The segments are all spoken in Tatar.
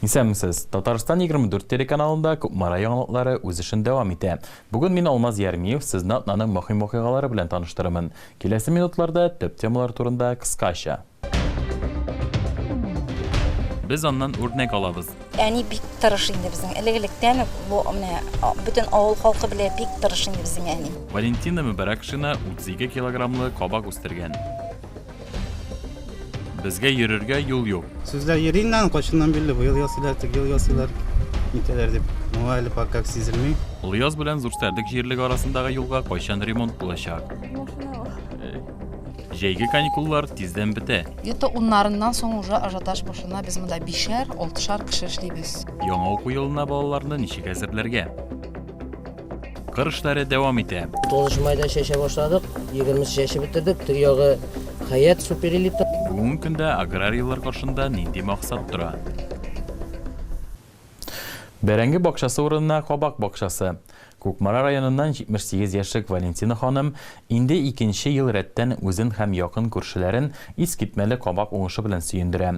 Исәнмесез! Татарстан 24 телеканалында Кукмара яңалыклары үз эшен дәвам итә. Бүген мин, Алмаз Ярмиев, сезне атнаның мөһим вакыйгалары белән таныштырырмын. Киләсе минутларда төп темалар турында кыскача. Без аннан үрнәк алабыз. Әни бик тырыш инде безнең. Элек-электән үк бу менә бөтен авыл халкы белә, бик тырыш инде безнең әни. Валентина Мөбәрәкшина 32 килограммлы кабак үстергән. Безгә йөрергә юл юк. Сүзләр йөри инде аның кайчаннан бирле быел ясыйлар, теге ел ясыйлар, нитәләр дип. Моңа әле пока как сизелми. Олыяз белән Зурсәрдек җирлек арасындагы юлга кайчан ремонт булачак? Җәйге каникуллар тиздән бетә. Где-то уннарыннан соң уже ажиотаж башлана. Без монда бишәр, алтышар кеше эшлибез. Яңа уку елына балаларны ничек әзерләргә? Кыр эшләре дәвам итә. 9 майда чәчә башладык, 20 чәче бетердек, төр ягы хәят суперэлита. Бүгенге көндә аграрийлар каршында нинди максат тора? Бәрәңге бакчасы урынына кабак бакчасы. Кукмара районыннан 78 яшьлек Валентина ханым инде икенче ел рәттән үзен һәм якын күршеләрен искитмәле кабак уңышы белән сөендерә.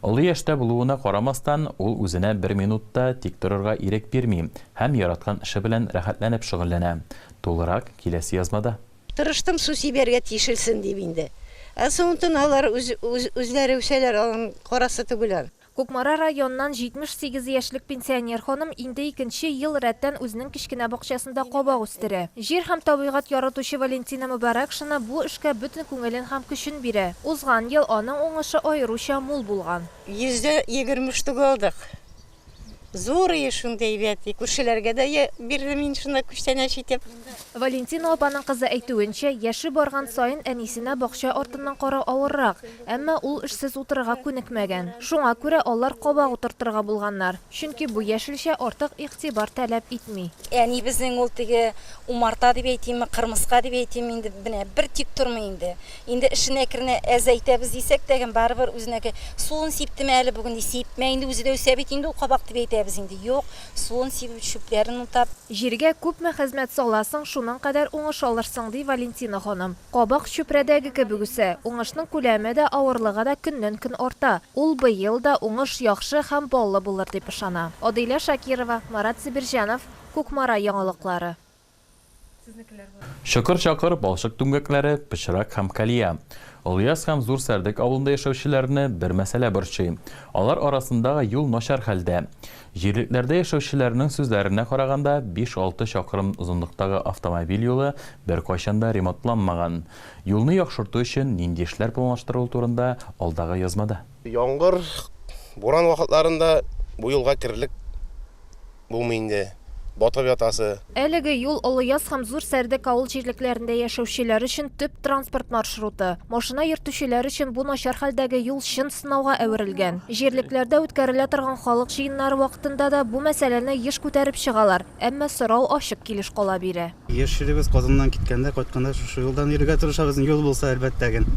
Олы яшьтә булуына карамастан, ул үзенә бер минут та тик торырга ирек бирми һәм яраткан эше белән рәхәтләнеп шөгыльләнә. Тулырак, киләсе язмада. Тырыштым су сибәргә тишелсен дип инде. Ә соңынтын алар үз-үзләре үсәләр, аларның карасы түгел ан. Кукмара ра йоннан 78 яшьлек пенсионер ханым инде икенче ел рәттән үзенең кечкенә бакчасында кабак үстерә. Җир һәм табигать яратучы Валентина Мөбарәкшина бу эшкә бөтен күңелен һәм көчен бирә. Узган ел аның уңышы аеруча мул булган. Йөздә егерме штук алдык. Зурые шундый әйбәт. И күршеләргә дә бирдем мин шунда күчтәнәч итеп. Валентина апаның кызы әйтүенчә, яше барган саен әнисенә бакча артыннан карау авыррак. Әмма ул эшсез утырырга күнекмәгән. Шуңа күрә алар кабак утыртырга булганнар, чөнки бу яшелчә артык игътибар таләп итми. Әнибезнең ул теге умарта дип әйтимме, кырмыска дип әйтимме, инде менә бер тик тормый инде. Инде эшен әкренә әзәйтәбез дисәк тәген, барыбер үзенеке, Суын сиптеме әле бүген? ди, Сипмә инде, үзе дә үсә бит инде ул кабак, дип әйтәбез инде. Юк, суын сибеп, чүпләрен утап. Җиргә күпме хезмәт саласың, шуның кадәр уңыш алырсың, ди Валентина ханым. Кабак чүпрәдәге кебек үсә. Уңышның күләме дә, авырлыгы да көннән-көн арта. Ул быел да уңыш яхшы һәм баллы булыр дип ышана. Адыйлә Шакирова, Марат Зибирҗанов, Кукмара яңалыклары. Чокыр-чакыр балчык түмгәкләре, пычрак һәм калия. Олыяз һәм Зур Сәрдек авылында яшәүчеләрне бер мәсьәлә борчый. Алар арасындагы юл начар хәлдә. Җирлекләрдә яшәүчеләрнең сүзләренә караганда, биш-алты чакрым озынлыктагы автомобиль юлы беркайчан да ремонтланмаган. Юлны яхшырту өчен нинди эшләр планлаштырылу турында алдагы язмада. Яңгыр, буран вакытларында бу юлга керерлек булмый инде, батып ятасы. Әлеге юл Олыяз һәм Зур Сәрдек авыл җирлекләрендә яшәүчеләр өчен төп транспорт маршруты. Машина йөртүчеләр өчен бу начар хәлдәге юл чын сынауга әверелгән. Җирлекләрдә үткәрелә торган халык җыеннары вакытында да бу мәсьәләне еш күтәреп чыгалар, әмма сорау ачык килеш кала бирә. Яшьлегебез Казаннан киткәндә, кайтканда шушы юлдан йөрергә тырышабыз, юл булса, әлбәттә гел.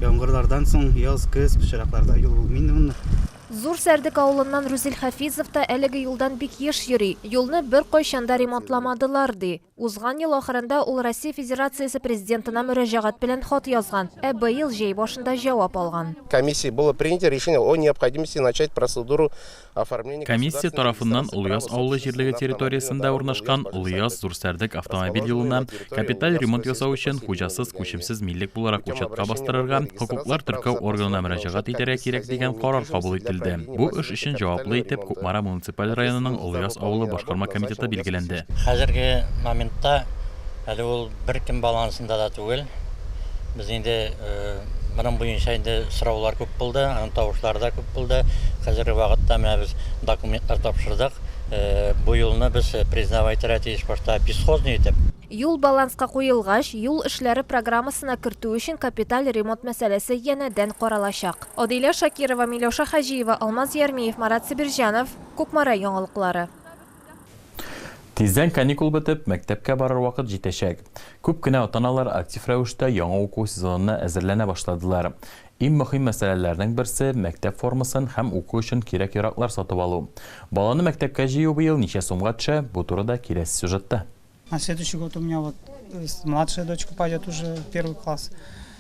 Яңгырлардан соң яз, көз, пычракларда юл булмый инде монда. Зур Сәрдек авылыннан Рүзил Хәфизов та әлеге юлдан бик еш йөри. Юлны беркайчан да ремонтламадылар, ди. Узган ел ахырында ул Россия Федерациясе Президентына мөрәҗәгать белән хат язган, ә быел җәй башында җавап алган. Комиссия тарафыннан Олыяз авылы җирлеге территориясендә урнашкан Олыяз-Зур Сәрдек автомобиль юлына Капиталь ремонт ясау өчен хуҗасыз, күчемсез милек буларак учетка бастырырга, хокуклар теркәү органына мөрәҗәгать итәргә кирәк дигән карар кабул ителде. Бу эш өчен җаваплы итеп Кукмара муниципаль районының Олыяз авылы башкарма комитеты билгеләнде. Хәзерге моментта әле ул беркем балансында да түгел. Без инде моның буенча инде сораулар күп булды, анонтаушлар да күп булды. Хәзерге вакытта менә без документлар тапшырдык. Бу юлны без признавать итәргә тиеш башта бесхозный итеп. Юл баланска куелгач, юл эшләре программасына кертү өчен капиталь ремонт мәсьәләсе янәдән каралачак. Адилә Шакирова, Миләүшә Хаҗиева, Алмаз Ярмиев, Марат Себерҗанов, Кукмара яңалыклары. Тиздән каникул бетеп, мәктәпкә барыр вакыт җитәчәк. Күп кенә ата-аналар актив рәвештә яңа уку сезонына әзерләнә башладылар. Иң мөһим мәсьәләләрнең берсе, мәктәп формасын һәм уку өчен кирәк-яраклар сатып алу. Баланы мәктәпкә җыю быел ничә сумга төшә, бу турыда киләсе сюжетта. На следующий год у меня вот младшая дочка пойдет уже в первый класс,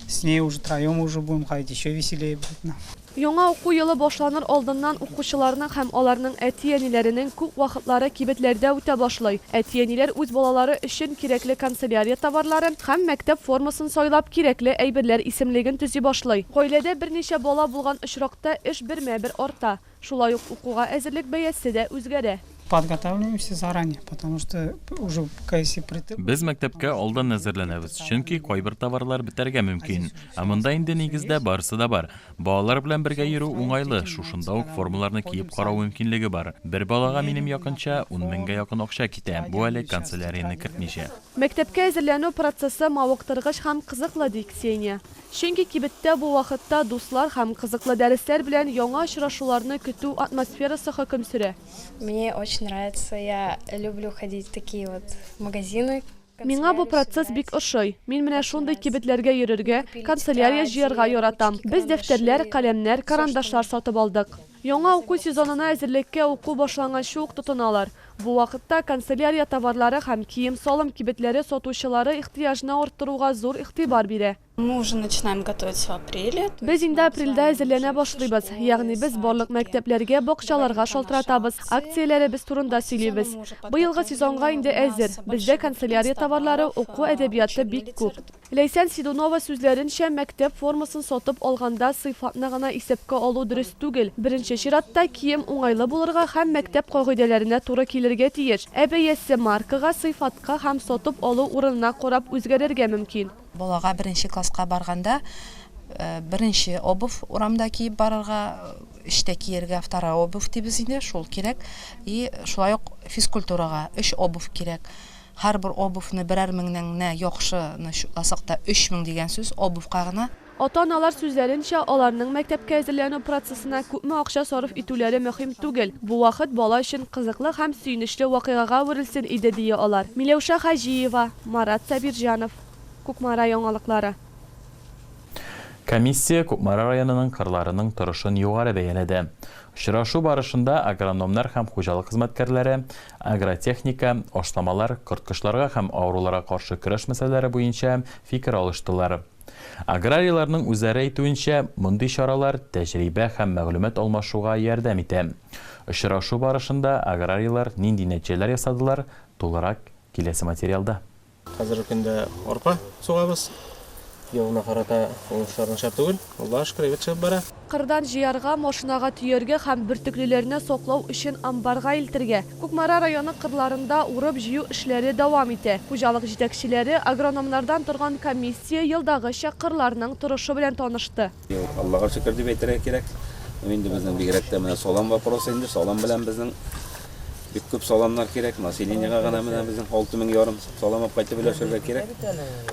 с ней уже троем уже будем ходить, еще веселее будет нам. Яңа уку елы башланыр алдыннан укучыларның һәм аларның әти-әниләренең күп вакытлары кибетләрдә үтә башлый. Әти-әниләр үз балалары өчен кирәкле канцелярия товарларын һәм мәктәп формасын Сайлап кирәкле әйберләр исемлеген төзи башлый. Гаиләдә берничә бала булган очракта эш бермә-бер арта. Шулай ук укуга әзерлек бәясе дә үзгәрә. Подготавливаемся заранее, потому что уже кайсы притык. Без мәктәпкә алдан әзерләнәбез, чөнки кайбер товарлар бетәргә мөмкин. Ә монда инде нигездә барысы да бар. Балалар белән бергә йөрү уңайлы, шушында ук формаларны киеп карау мөмкинлеге бар. Бер балага минем якынча ун меңгә якын акча китә, бу әле канцелярияне кертмичә. Мәктәпкә әзерләнү процессы мавыктыргыч һәм кызыклы, ди Ксения. Чөнки кибеттә бу вакытта дуслар һәм кызыклы дәресләр белән яңа очрашуларны көтү атмосферасы хөкем сөрә. Мне очень нравится, я люблю ходить в такие вот магазины, канцелярию Миңа бу процесс бик ошый. Мин менә шундый кибетләргә йөрергә, канцелярия җыярга яратам. Без дәфтәрләр, каләмнәр, карандашлар сатып алдык. Яңа уку сезонына әзерлеккә уку башланганчы ук тотыналар. Бу вакытта канцелярия товарлары һәм кием-салым кибетләре сатучылары ихтыяҗны арттыруга зур игътибар бирә. Без инде апрельдә әзерләнә башлыйбыз, ягъни без барлык мәктәпләргә, бакчаларга шалтыратабыз, акцияләребез турында сөйлибез. Быелгы сезонга инде әзер. Бездә канцелярия товарлары, уку әдәбияты бик күп. Ләйсән Сидунова сүзләренчә, мәктәп формасын сатып алганда сыйфатны гына исәпкә алу дөрес түгел. Беренче чиратта, кием уңайлы булырга һәм мәктәп кагыйдәләренә туры килергә тиеш. Ә бәясе маркага, сыйфатка һәм сатып алу урынына карап үзгәрергә мөмкин. Балага беренче класска барганда беренче обувь урамда киеп барырга, эштә киергә вторая обувь дибез инде, шул кирәк. И шулай ук физкультурага өч обувь кирәк. Һәрбер обувьны берәр меңнән генә, яхшыны чутласак та, өч мең дигән сүз обувька гына. Ата-аналар сүзләренчә, аларның мәктәпкә әзерләнү процессына күпме акча сарыф итүләре мөһим түгел, бу вакыт бала өчен кызыклы һәм сөенечле вакыйгага әверелсен иде, дия алар. Миләүшә Хаҗиева, Марат Сабирҗанов, Кукмара яңалыклары. Комиссия Кукмара районының кырларының торышын югары бәяләде. Очрашу барышында агрономнар һәм хуҗалык хезмәткәрләре, Агротехника, ашламалар, корткычларга һәм авыруларга каршы көрәш мәсьәләләре буенча фикер алыштылар. Аграрийларның үзләре әйтүенчә, мондый чаралар тәҗрибә һәм мәгълүмат алмашуга ярдәм итә. Очрашу барышында аграрийлар нинди нәтиҗәләр ясадылар, тулырак киләсе материалда. Хәзерге көндә арпа сугабыз. Елына карата уңышлар начар түгел. Аллага шөкер, әйбәт чыгып бара. Кырдан җыярга, машинага төяргә һәм бөртеклеләрне саклау өчен амбарга илтергә. Кукмара районы кырларында урып-җыю эшләре дәвам итә. Хуҗалык җитәкчеләре, агрономнардан торган комиссия елдагыча кырларның торышы белән танышты. Аллага шөкер дип әйтергә кирәк. Инде безнең бигрәк тә менә салам вопросы инде, салам белән безнең бик күп саламнар кирәк. Населениега гына менә безнең 6 мең ярым салам алып кайтып өләшергә кирәк.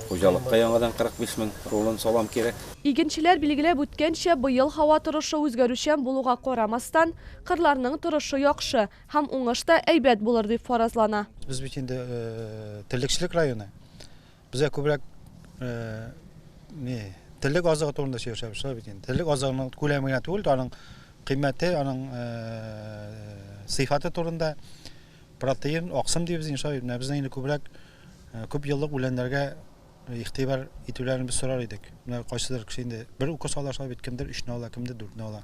Хуҗалыкка яңадан 45 мең рулон салам кирәк. Игенчеләр билгеләп үткәнчә, быел һава торышы үзгәрүчән булуга карамастан, кырларның торышы яхшы һәм уңыш та әйбәт булыр дип фаразлана. Без бит инде терлекчелек районы. Безгә күбрәк не терлек азыгы турында сөйләшәбез шулай бит инде. Терлек азыгының күләме генә түгел, аның кыйммәте, аның сыйфаты турында протеин, аксым дибез инде шулай. Менә безнең инде күбрәк күп еллык үләннәргә игътибар итүләрен без сорар идек. Менә кайсыдыр кеше инде бер укус ала шулай бит, кемдер өчне ала, кемдер дүртне ала.